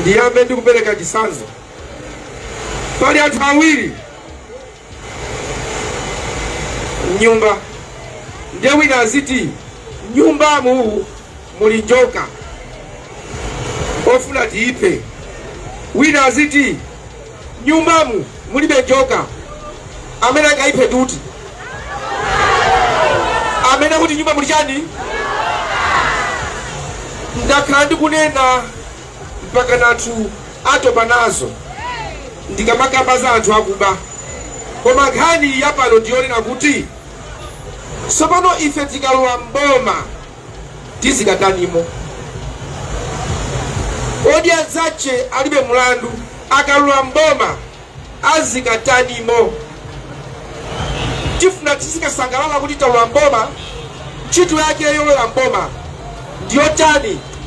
ndiyambe ndi kupereka chitsanzo pali anthu awiri mnyumba ndiye wina aziti nyumbamu muli njoka ofuna tiiphe wina aziti nyumbamu mulibe njoka amene angaiphe ndi uti amene kuti nyumba muli chani ndakhala ndikunena mpakana anthu atopa nazo ndikamakamba za anthu akuba koma nkhani yapano ndiyonena kuti tsopano ife tikalowa mboma tizikatanimo kodi anzache alibe mulandu akalula mboma azikatanimo tifuna tizikasangalala kuti talula mboma ntchito yake yolowera mboma ndiyotani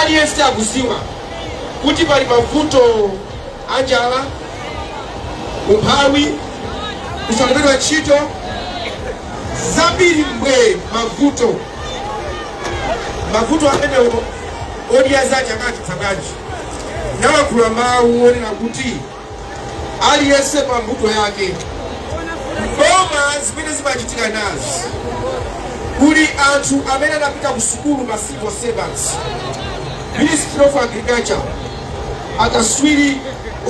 Aliyense akuziwa kuti pali mavuto anjala, umphawi, kusalembedwa ntchito, zambiri mbwe mavuto. Mavuto amenewo Odya Zake akachita bwanji? Amalankhula mawu onena kuti aliyense pa mbuto yake mboma zimene zimachitika nazi kuli anthu amene anapita ku sukulu ma civil servants ministry of agriculture akaswiri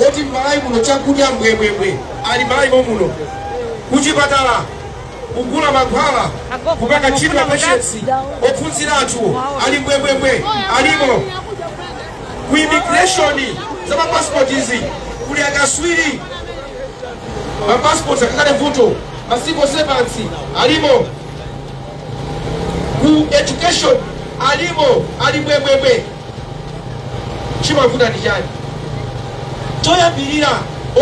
oti m'malawi muno chakudya mbwembwembwe ali malawi mommuno kuchipatala kugula mankhwala kupanga treat wa patients ophunzira anthu ali mbwembwembwe alimo ku immigration za mapasipoti izi kuli akaswiri mapasipoti akakale vuto ma civil servants alimo ku education alimo ali mbwembwembwe chimavuta ndi chani choyambirira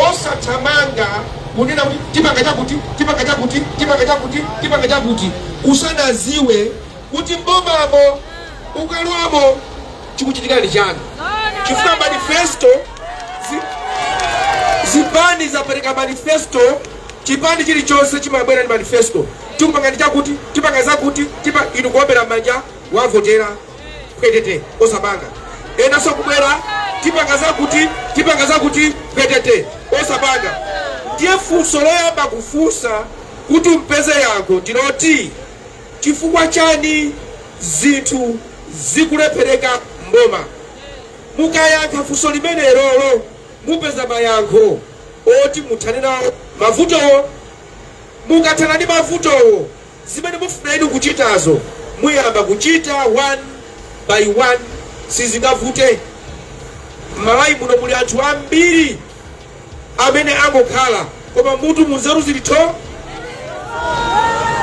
osathamanga kunena kuti tipanga chakuti tipanga chakuti tipanga chakuti tipanga chakuti usanaziwe kuti m'bomamo ukalowamo chikuchitika ndi chani chifukwa manifesto zi, zipani zapereka manifesto chipani chilichonse chimabwera ndi manifesto tikupanga ndi chakuti tipanga zakuti tipa inu kuombera m'manja wavotera kwetete osapanga enanso kubwera tipanga zakuti tipanga zakuti kwetete osapanga ndiye funso loyamba kufunsa kuti upeze yankho ndiloti Chifukwa chani zinthu zikulephereka m'boma? Mukayankha funso limenelolo mupeza mayankho oti muthane nawo mavutowo. Mukathana ndi mavutowo zimene mufuna inu kuchitazo muyamba kuchita one by one. Sizingavute. M'Malawi muno muli anthu ambiri. amene angokhala koma mmutu munzeru zili tho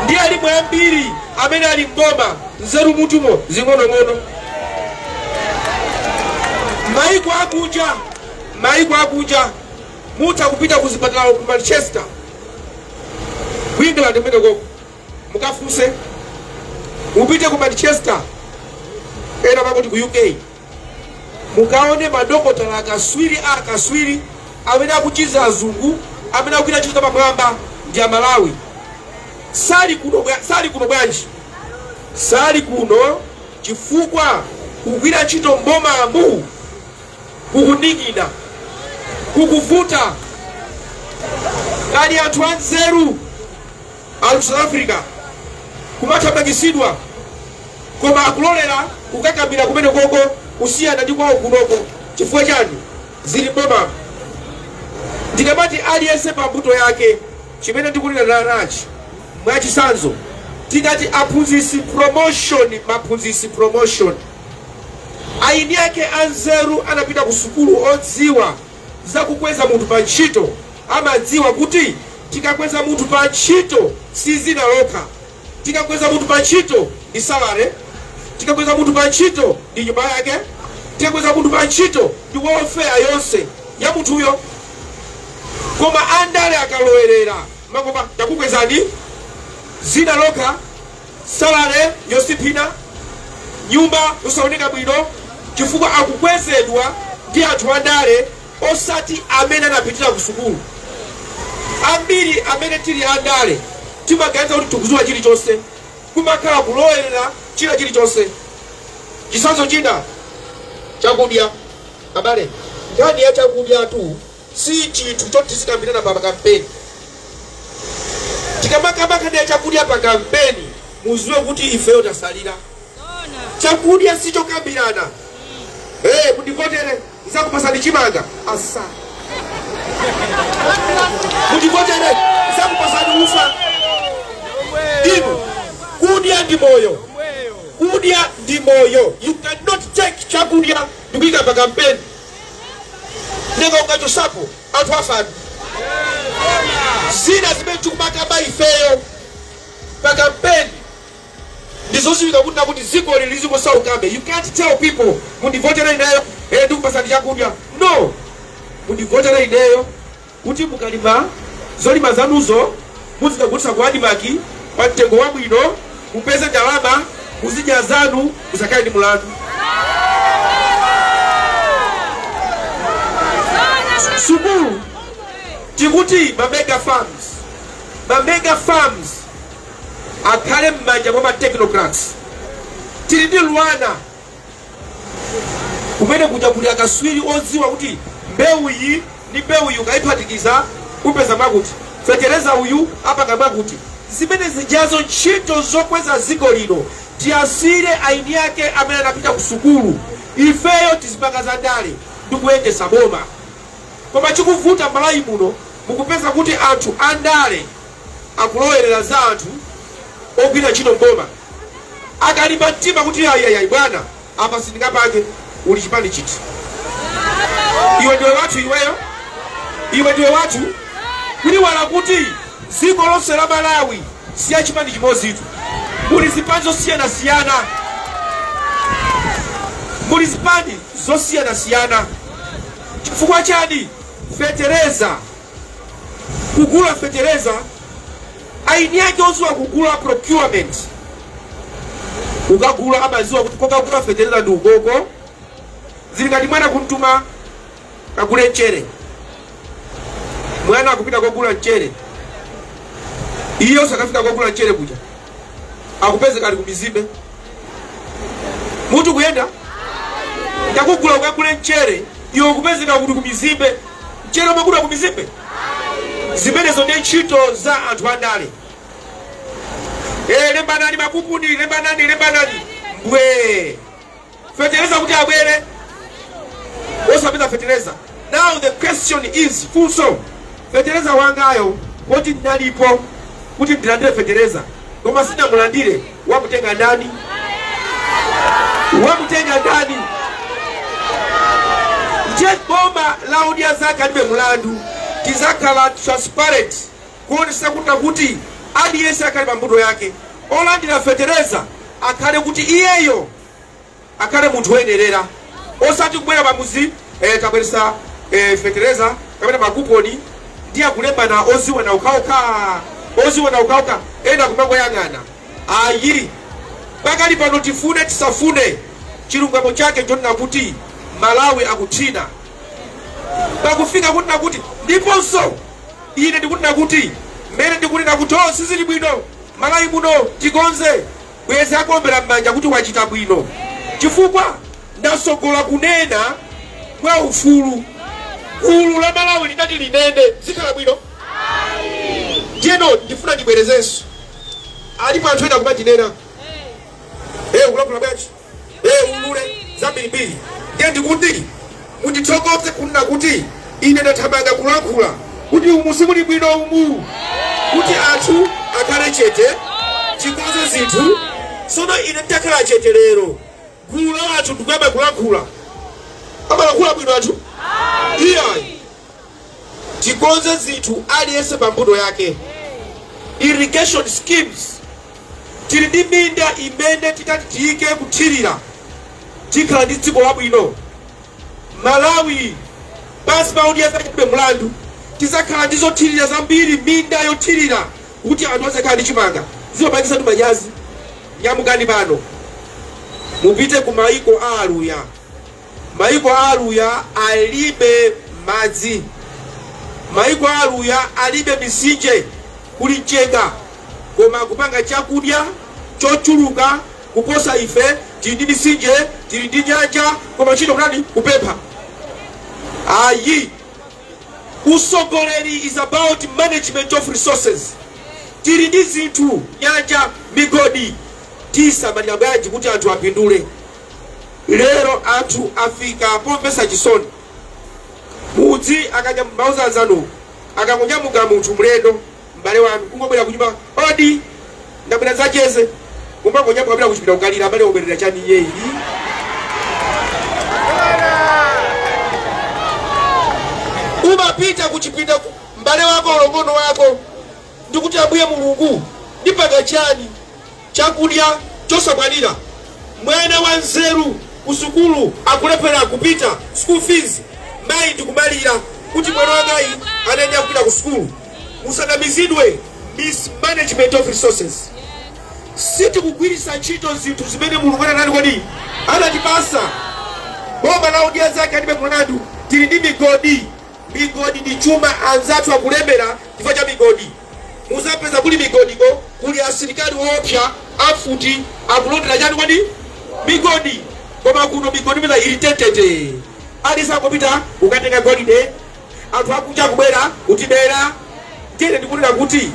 ndi alimo ambiri amene ali mboma nzeru mutumo zing'onong'ono maiko akunja maiko akunja mutha kupita ku zipatala ku manchester ku england kumeneko mukafunse mupite ku manchester ena pakuti ku uk Mukaone madokotala akatswiri akatswiri amene akuchiza azungu amene akugwira ntchito zapamwamba ndi amalawi sali kuno bwanji sali kuno chifukwa kugwira ntchito mbomamu kukukanika kukuvuta kaya anthu anzeru Ali South Africa akumathamangitsidwa koma akulolera kukakamira kumenekoko kusiyana ndi kwawo kunoko chifukwa chani? Zili m'boma. Ndikamati aliyense pa mbuto yake chimene ndikunena nachi mwachitsanzo tikati aphunzitsi promotion aphunzitsi promotion eni ake anzeru anapita ku sukulu odziwa za kukweza munthu pa ntchito amadziwa kuti tikakweza munthu pa ntchito si dzina lokha tikakweza munthu pa ntchito ndi salary tikakweza munthu pa ntchito ndi nyumba yake tikakweza munthu pa ntchito ndi welfare yonse ya munthuyo koma andale akalowerera amangoti takukwezani dzina lokha salary yosintha nyumba yosaoneka bwino chifukwa akukwezedwa ndi anthu andale osati amene anapitira kusukulu. Ambiri amene tili andale timaganiza kuti tikudziwa chilichonse. Kumakhala kulowerera china chilichonse. Chitsanzo china, chakudya. Abale, nkhani ya chakudyatu si chinthu choti tizikambirana pa kampeni. Tikamakamba nkhani ya chakudya pa kampeni, mudziwe kuti ifeyo tatsalira. Chakudya si chokambirana. Hey, mundivotere. nzakupatsani chimanga asa mundivotere nzakupatsani ufa inu kudya ndi moyo kudya ndi moyo you cannot take chakudya ndikuika pa kampeni nanga ukachotsapo anthu afe zina zimene tikumakamba ifeyo pa kampeni Ndizoziwika kunena kuti dzikoli lizingosaukabe you can't tell people mundivotele ineyo ee ndikupasani chakudya no mundivotele ineyo kuti mukalima zolima zanuzo muzikagulisa ku admarc pa mtengo wabwino mupeze ndalama muzidya zanu musakhale ndi mulandu. Sukulu tikuti ma mega farms ma mega farms akhale m'manja mwa ma technocrats tili ndi luanar kumene kuja kuli akaswiri odziwa kuti mbewu iyi ndi mbewu iyi ukayiphatikiza upeza mwakuti fetereza uyu apanga mwakuti zimene zijazo ntchito zokweza dziko lino tiwasiyire aini ake amene anapita ku sukulu ifeyo tizipanga za ndale ndi kuyendesa boma koma chikuvuta malawi muno mukupeza kuti anthu andale akulowerera za anthu ogwira ntchito m'boma akalimba mtima kuti ayi ayi ayi bwana apa sindingapange uli chipani chiti iwe ndiwe wathu iweyo iwe ndiwe wathu kuyiwala kuti dziko lonse la malawi si ya chipani chimodzitu muli zipani zosiyanasiyana muli zipani zosiyanasiyana chifukwa chani fetereza kugula fetereza aini ake oziwa kugula procurement ukagula amaziwa kuti kokagula fetereza ndi ukoko zili ngati mwana kumtuma kagule mchere mwana akupita kogula mchere iye osakafika kogula mchere kuja akupezeka ali kumizimbe mutu kuyenda ndakugula ukagule mchere iwe ukupezeka kuti kumizimbe mchere umagula kumizimbe zimenezo ndi ntchito za anthu andale Eh, lembanani makuponi lembanani lembanani mbwee feteleza kuti abwere osapeza feteleza now the question is funso feteleza wangayo poti ndinalipo kuti ndilandire feteleza koma sinamulandire wamutenga ndani wamutenga ndani nde boma la odya zake alibe mulandu tizakhala transparent kuonetsetsa kunena kuti aliyense akhale pa mbuto yake, olandira fetereza akhale kuti iyeyo akhale munthu oyenerera osati kubwera pa mudzi eh, tabweretsa eh, fetereza kapena makuponi ndi akulembana oziwana okhaokha oziwana okhaokha ena kumangoyang'ana ayi pakali pano tifune tisafune chilungamo chake chonena kuti malawi akuthina pakufika kunena kuti ndiponso Ine ndikunena kuti mmene ndikunena kuti oh sizili bwino Malawi muno tikonze bwezi akuombera mmanja kuti wachita bwino chifukwa ndasogola kunena mwa ufulu gulu la Malawi linati linene zikhala bwino ndiyeno ndifuna ndibwerezenso alipo anthu ena kumandinena eh ukulankhula bwanji ee ulule zambirimbiri ndiye ndikuti mundithokoze kunena kuti ine ndathamanga kulankhula kuti umu simuli bwino umu kuti anthu akhale chete tikonze zinthu sono ine nditakhala chete lero gulu la anthu ndikuyamba kulankhula amalankhula bwino anthu iyayi tikonze zinthu aliyense pa mbuto yake irrigation schemes tili ndi minda imene titati tiyike kuthirira tikhala ndi dziko labwino malawi pansi pa Odya Zake Alibe Mlandu tizakhala ndi zothirira zambiri minda yothirira kuti anthu azakhala ndi chimanga zimapangisa ndi manyazi nyamukani pano mupite ku maiko a aluya Maiko a aluya alibe madzi. Maiko a aluya alibe misinje. Kuli mchenga. Koma akupanga chakudya chochuluka kuposa ife. Tili ndi misinje, tili ndi nyanja, koma ntchito kutani? Kupempha. Ayi. Usogoleri is about management of resources. Tili ndi zinthu, nyanja, migodi, tisamalira bwanji kuti anthu apindule? Lero anthu afika pomvesa chisoni mudzi akanyam mauza anzanuwo akangonyamuka munthu mlendo m'bale wanu kungobwera kunyumba odi ndabwera ndidzacheze kumangonyamuka kupita kuchipinda kukalira abale wabwerera chani iye ii umapita kuchipinda ku- m'bale wako mlongo wako ndi kuti, Ambuye Mulungu, ndipanga chiyani chakudya chosakwanira mwana wa nzeru ku sukulu akulephera kupita school fees? Mayi ndikumalira kuti mwana wangayi anayenera kupita ku sukulu. Musanamizidwe mismanagement of resources. Sitikugwiritsa ntchito zinthu zimene Mulungu anati kodi anatipasa boma la Odya Zake Alibe Mlandu tili ndi migodi Migodi ndi chuma anzathu akulemera chifukwa cha migodi. Muzapeza kuli migodi ko. Kuli asilikali oopsa amfuti akulondera chani kodi? Migodi. Koma kuno migodi mwina ili tetete. Aliyense angopita kukatenga golide. Anthu akunja akubwera kutibera. Ndiye ine ndikunena kuti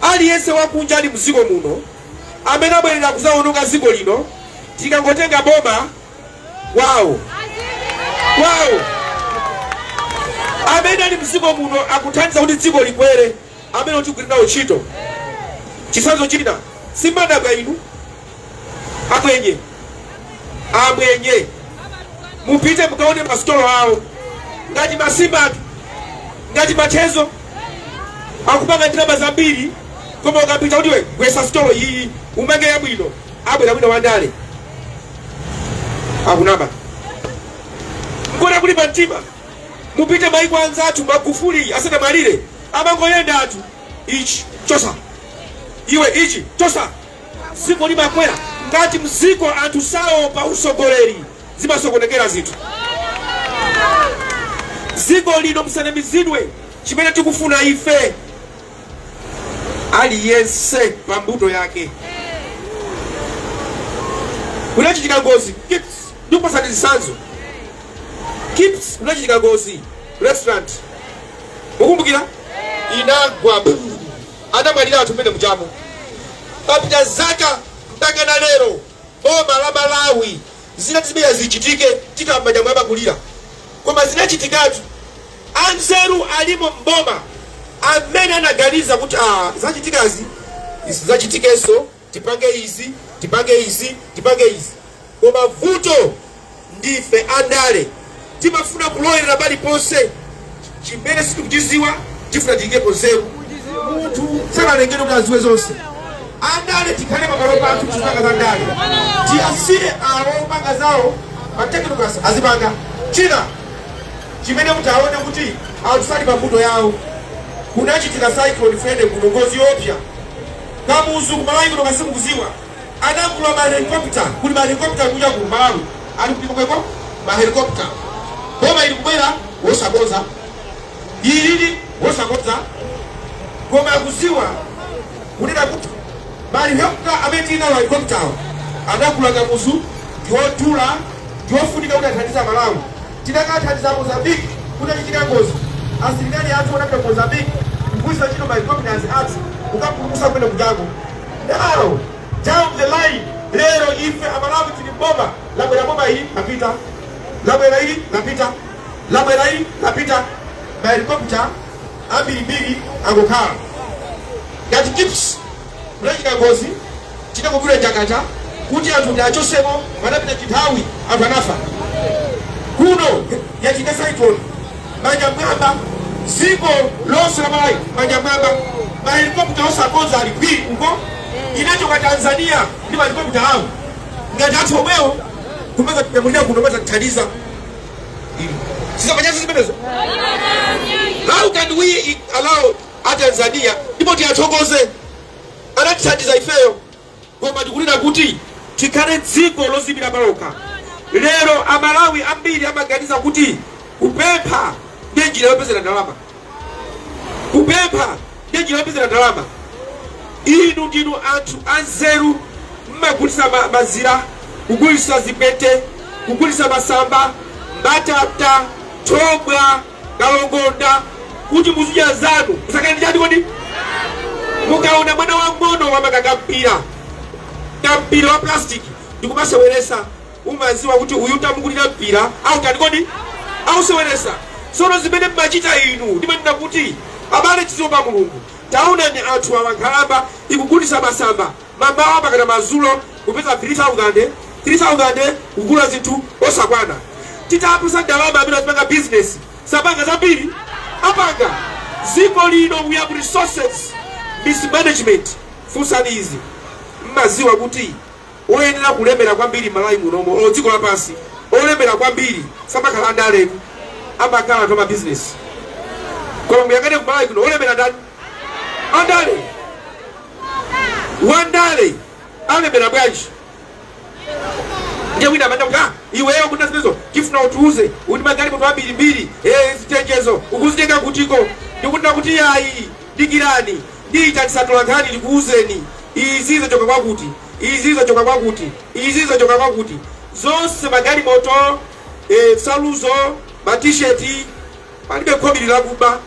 aliyense wakunja ali mziko muno amene abwelera kuzaononga ziko lino tikangotenga boma. kwawo kwawo amene ali mdziko muno akuthandiza kuti dziko likwere amene tikugwira nawo ntchito chitsanzo china simumadabwa inu amwenye amwenye mupite mukaone masitolo awo ngati masimatu ngati machezo akupanga ndalama zambiri koma ukapita kuti iwe gwetsa sitolo iyi umange yabwino abwera wina wandale akunama nkona kuli pa mtima mupite maiko anzathu magufuli asanamwalire amangoyenda ati ichi chotsa iwe ichi chotsa dziko limakwera ngati mdziko anthu sali pa utsogoleri zimasokonekera zinthu dziko lino musanamizidwe chimene tikufuna ife aliyense pa mbuto yake kunachitika ngozi kips ndikupatsani zitsanzo kips kunachitika ngozi restaurant mukumbukira inagwa bu anamwalira anthu mmene mujamo papita zaka mpaka na lero boma la malawi zinati zimenezi zichitike tikamba zamwamba kulira koma zinachitikatu anzeru alimo mboma amene anaganiza kuti aa zachitikazi zisizachitikenso tipange izi tipange izi tipange izi koma vuto Ndife andale timafuna kulowerera paliponse. Chimene sitikuchidziwa tikufuna tiyikepo nzeru. Munthu sanalengedwe kuti adziwe zonse. Andale tikhale pamalo pathu tizipanga za ndale, tiyasiye awo opanga zawo ma technocrats azipanga. China chimene muti muone kuti anthu sali pa mbuto yawo, kunachitika cyclone Freddy kuno, ngozi yoopsa Kamuzu kumalawi kuno kasimukuziwa Anagula ma helicopter, kuli ma helicopter kuja ku Malawi, ali kuti kumweko ma helicopter. Boma ili kubwera osakonza, ililii osakonza, koma akudziwa kunena kuti ma helicopter amene tili nawo helicopter awo anagula kamuzu ndiwodula ndiwofunika kuti athandize Malawi. Tinakathandiza Mozambique kutachitika ngozi asilikali athu anapita Mozambique kugwiritsa ntchito ma helicopters athu kukapulumutsa kumene kujako Now, down the line, lero ife amalawi tili boma labwera boma ili lapita labwera ili lapita labwera ili lapita mahelikopta ambirimbiri angokhala ngati kips kunachitika ngozi chita kugula chakata kuti anthu tiwachotsemo padapita chinthawi anthu anafa kuno yachitika cyclone manja mwamba dziko lonse la malawi manja mwamba mahelikopta onse akonza ali pii uko inachoka tanzania ndi mahelikopta awo ngati athu omwewo kumeza tinyamulira kuno atatithandiza sizapanyazi zimenezo how can we allow atanzania ndipo tiyathokoze anatithandiza ifeyo koma tikunena kuti tikhale dziko loziyimira palokha. Lero a Malawi ambiri amaganiza kuti kupempha ndiye njira yopezera ndalama. Kupempha ndiye njira yopezera ndalama. Inu ndinu anthu anzeru mmagulisa ma, mazira, kugulisa zipete, kugulisa masamba, mbatata, thobwa, kalongonda kuti muzidya zanu musakane chani kodi mukaona mwana wang'ono wamanga kampira kampira wa plastic ndikumaseweresa umaziwa kuti uyu tamugulira mpira autani kodi auseweresa sono zimene mmachita inu ndimanena kuti abale tiziwopa mulungu taonani anthu awa nkhalamba ikugulisa masamba mamawa mpakana madzulo kupeza 3000, 3000 kugula zinthu osakwana titapasa ndalama amene azipanga business sapanga zambiri apanga ziko lino we have resources mismanagement funsani izi mmaziwa kuti oyenera kulemera kwambiri malawi munomo or dziko lapansi olemera kwambiri samakhala andale amakhala anthu amabizinesi koma muyang'ane kumalawi kuno olemera ndani andale wandale alemera bwanji ndiye wina amanena kuti ah, iweyo kunja zimenezo tifuna utiuze kuti magalimoto ambirimbiri eh, zitenjezo ukuzitenga kutiko ndikuti ine kuti yayi dikirani ndiita tsatula nkhani ndikuuzeni izi zachoka kwakuti izi zachoka kwakuti izi zachoka kwakuti zonse magalimoto eh, nsaluzo matisheti Palibe khobili lakuba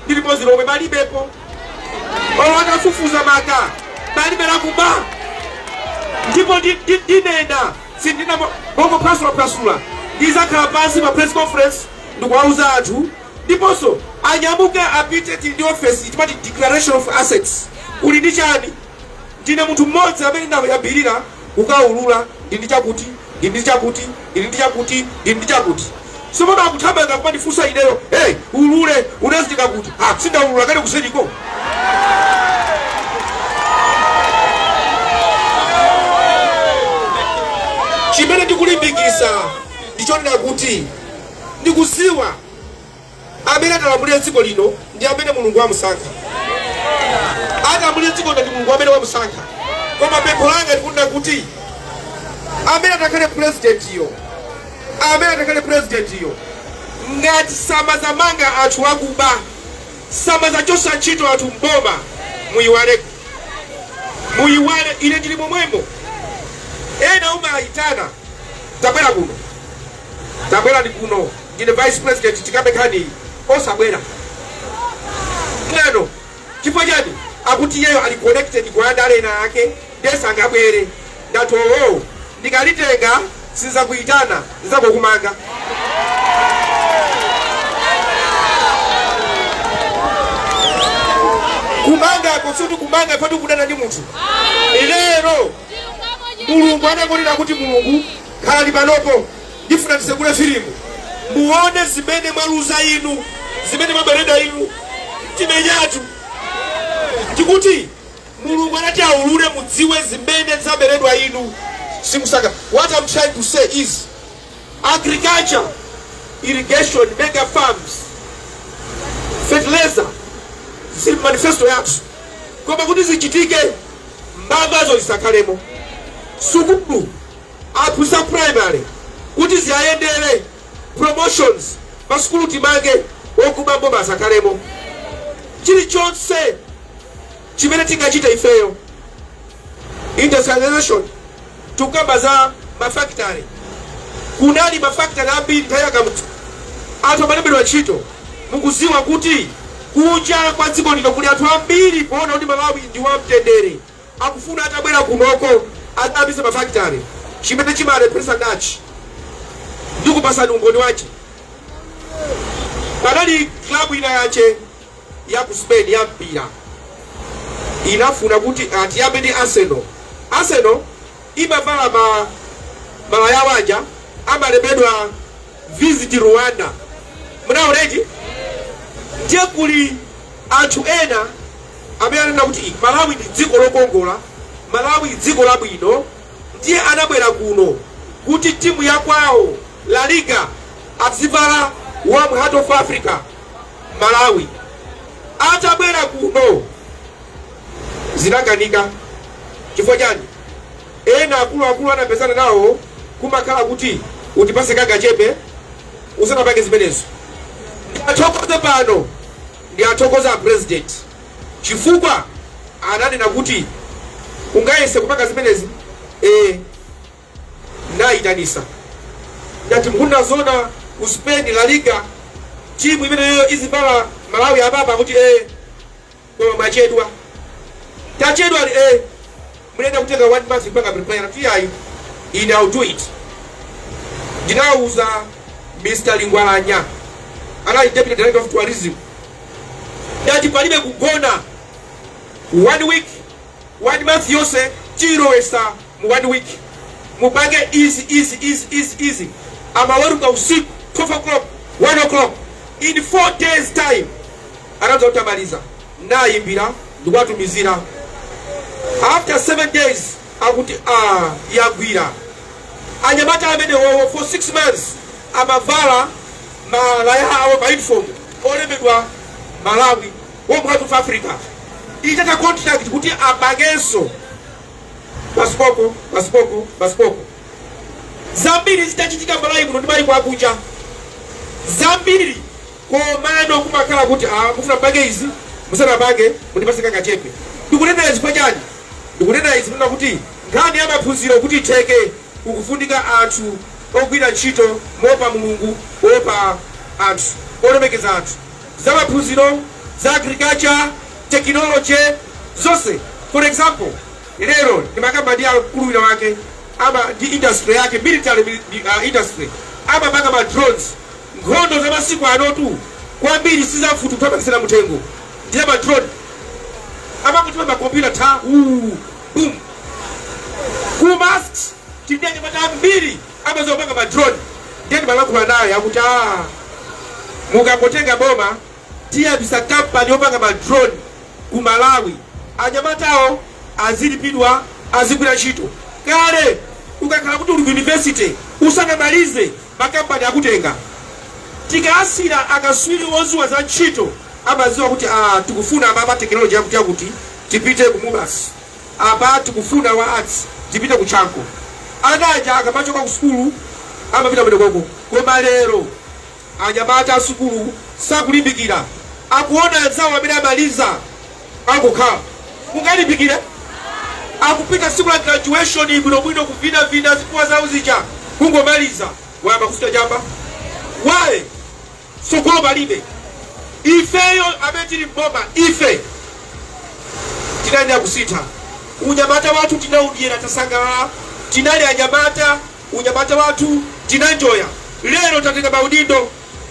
ndi limodzi lomwe, palibepo. Olo atafufuza motani, palibe lakuba. Ndipo ndi, ndi, ndinena sindinena mongophwasulaphwasula, ndizakhala pansi pa press conference ndikuwauza anthu, ndiponso anyamuke apite tili ndi ofesi timati declaration of assets. Uli ndi chani? Ndine munthu mmodzi amene ndayambirira kukaulula, ndili ndi chakuti, ndi ndi chakuti, ndi ndi chakuti, ndi ndi chakuti. Tsopano akuthamanga kumandifunsa ineyo, Hey, ulule, unazitenga kuti? Ah, si ndaulula kale kuseriko. Chimene ndikulimbikitsa ndichonena kuti ndikuziwa amene atalamulire dziko lino ndi amene mulungu wamusankha atalamulire dziko lino ndi mulungu amene wamusankha koma pempho langa ndikunena kuti amene atakhale purezidentiyo amene atakhale purezidentiyo ngati samazamanga anthu akuba samazachosa ntchito anthu m'boma muyiwale muyiwale ine ndili momwemo ena umawayitana tabwera kuno tabwerani kuno ndine vice president tikambe nkhaniyi osabwera mwano chifukwa chani akuti iyeyo ali connected kwa andale ena ake nde sangabwere ndati owo ndikadzitenga sindizakuyitana ndizangokumanga kumangako sikuti kumanga ndi kudana ndi munthu lero mulungu anakonena kuti mulungu khalani panopo Ndifuna tisegule filimu muone zimene mwaluza inu, zimene mwaberedwa inu. Timenyatu. Tikuti Mulungu anati aulule mudziwe zimene zaberedwa inu. Sikusaka. What I'm trying to say is agriculture, irrigation, mega farms, fertilizer zili m'manifesto yathu koma kuti zichitike mbavazo zisakhalemo sukulu Aphunzitsi a primary kuti ziwayendere promotions pa sukulu timange okuba m'boma asakhalemo chilichonse chimene tingachite ifeyo industrialization tikukamba za ma factory kunali ma factory ambiri nthawi ya Kamuzu anthu amalembedwa ntchito mukuziwa kuti kunja kwa dziko lino kuli anthu ambiri poona kuti malawi ndi wamtendere Akufuna atabwera kunoko adzayambitse ma factory chimene chimalepheretsa n'chani ndikupatsani umboni wache panali club inayake ya ku Spain ya mpira inafuna kuti achite ndi Arsenal Arsenal imavala malaya awo aja amalembedwa Visit Rwanda munaona eti ndiye kuli anthu ena amene anaona kuti malawi ndi dziko lokongola malawi dziko labwino ndiye anabwera kuno kuti timu ya kwawo la liga adzivala warm heart of africa malawi atabwera kuno zinakanika chifukwa chani Ena akuluakulu anapezana nawo kumakhala kuti utipatse kangachepe usanapange zimenezo. Ndiathokoze pano ndiathokoze a president chifukwa ananena kuti ungayese kupanga zimenezi ee nayitanitsa ndati mukunena zoona ku Spain la liga team imeneyoyo izivala Malawi apapa akuti ee. Koma mwachedwa. Tachedwa ati ee munayenera kutenga 1 month kupanga prepare anati iyayi ine I'll do it. Ndinauza Mr. Lingwalanya anali Deputy Director of Tourism ndati palibe kugona 1 week 1 month yonse tiyilowetsa mu 1 week mupange easy amaweruka usiku 12 o'clock 1 o'clock in 4 days time atadza kutamaliza nayimbira ndikuwatumizira after 7 days akuti a ah, yagwira anyamata amenewowo for 6 months amavala malaya awo ma uniform olembedwa Malawi Warm Heart of Africa itatha contract kuti apangenso pasipoko pasipoko pasipoko zambiri zitachitika Malawi muno ndi maiko akunja zambiri Komano kumakhala kuti aah mufuna mupange izi, musanapange mundipatse kangachepe. Ndikunena izi chifukwa chani? Ndikunena izi kunena kuti nkhani ya maphunziro kuti itheke kukufunika anthu ogwira ntchito moopa Mulungu, oopa anthu, olemekeza anthu. Za maphunziro, za agriculture, technology, zonse. For example, lero ndimakamba ndi akulu wina wake ama ndi industry yake, military industry, amapanga ma drones. Nkhondo za masiku anotu kwambiri si za mfuti kuthamangitsana muthengo ndi ya ma drone amangoti pa ma computer tha wuu boom ku MUST tili ndi anyamata ambiri amadziwa kupanga ma drone ndiye ndimalankhula naye akuti aah mukangotenga boma tiyambitsa company yopanga ma drone ku Malawi anyamatawo azilipidwa azigwira ntchito kale ukakhala kuti uli ku university usanamalize makampani akutenga. Tikaasira akaswiri odziwa za ntchito amadziwa kuti aa tikufuna apa apa technology yakuti yakuti tipite ku Mubas, apa tikufuna wa arts tipite ku Chanco. Ana aja akamachoka ku sukulu amapita kumenekoko. Koma lero anyamata asukulu sakulimbikira, akuona anzawo amene amaliza. akukhala kungolimbikira akupita tsiku la graduation bwinobwino kuvinavina zikuwa zawo zija kungomaliza wayamba kuchita chamba waye tsogolo palibe ifeyo amene tili mboma ife tinayenera kuchita unyamata wathu tinaudyera tasangalala tinali anyamata unyamata wathu tinanjoya lero tatenga maudindo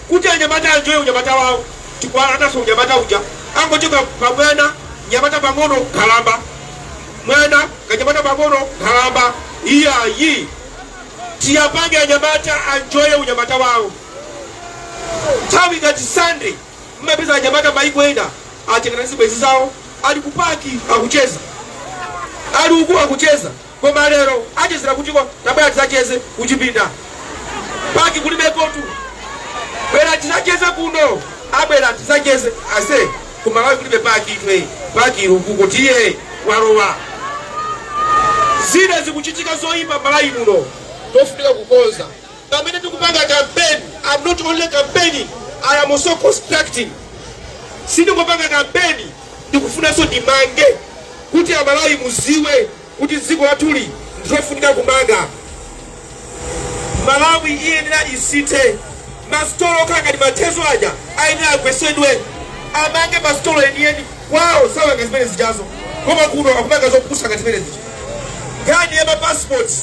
Kuti anyamata anjoye unyamata wawo tikuwalandanso unyamata uja angochoka pa mwana nyamata pang'ono nkhalamba mwana kanyamata pang'ono nkhalamba iyayi tiwapange anyamata anjoye unyamata wawo nthawi ngati sunday mmapeza anyamata maiko ena atengana ndi zibwezi zawo ali ku park akucheza ali uku akucheza Koma lero achezera kutiko tabwera tidzacheze kuchipinda park kulibekotu bwera tidzacheze kuno tabwera tidzacheze ase kumalawi kulibe parkitu ee park ili ukuko tiye walowa zimene zikuchitika zoyipa malawi muno tofunika kukonza pamene tikupanga campaign i'm not only campaigning i am also constructing sindikupanga kampeni ndikufunanso ndimange kuti amalawi mudziwe kuti dziko lathuli ndilofunika kumanga malawi iyenera isinthe masitolo okhala ngati mathezo aja ayenera agwesedwe amange masitolo enieni kwawo samanga zimene zijazo koma kuno akumanga zopusa ngati zimene zija nkhani ya mapassports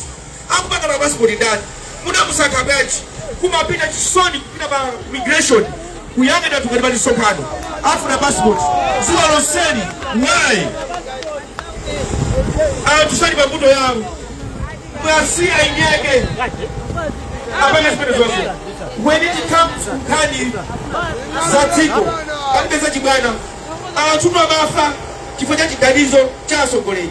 Akupanga ma passport ndani? Munamusankha bwanji? Kumapita chisoni kupita pa immigration kuyang'ana anthu ngati pali msonkhano afuna passport dziko lonseli why? Anthu sali pa mbuto yawo mwasiya inyeke apanga zimene zonse when it comes to nkhani za dziko kapeza chibwana anthu amafa chifukwa cha ziganizo cha atsogoleri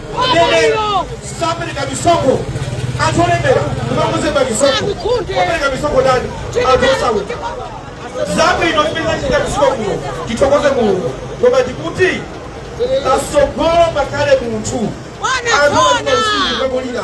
sapereka misonkho anthu olemera ndimamuze pamisonkho opereka misonkho ndani anthu osauka zabwino zimene zachita misonkho kuno tithokoze mulungu koma ndikuti patsogolo pakhale munthu anthu aonaosindikamulira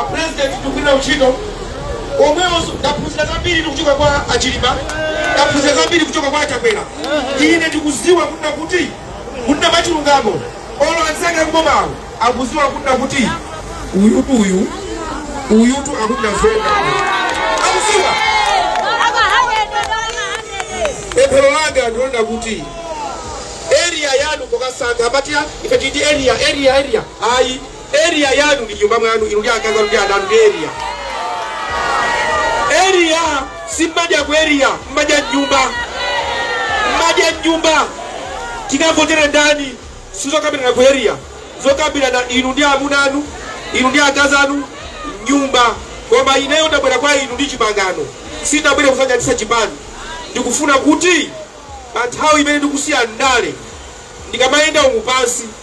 a president tikugwira ntchito omwewonso ndaphunzira zambiri kuchoka kwa achilima ndaphunzira zambiri kuchoka kwa achakwera ine ndikudziwa kunena kuti kunena machilungamo olo anzanga kubomawo akudziwa kunena kuti uyutu uyu uyutu akunena zoona akudziwa pemphero langa ndionena kuti area yanu mukasankha amatiya ife titi area area area ayi Area yanu ndi nyumba mwanu inu ndi akazi anu ndi ana anu ndi area. Area simumadya ku area mumadya mnyumba. Mmadya mnyumba. Tikavotere ndani sizokambirana ku area zokambirana inu ndi amuna anu inu ndi akazi anu mnyumba. Koma ineyo ndabwera kwa inu ndi chipangano sindabwere kufananitsa chipani. Ndikufuna kuti pa nthawi imene ndikusiya ndale ndikamayenda umu pansi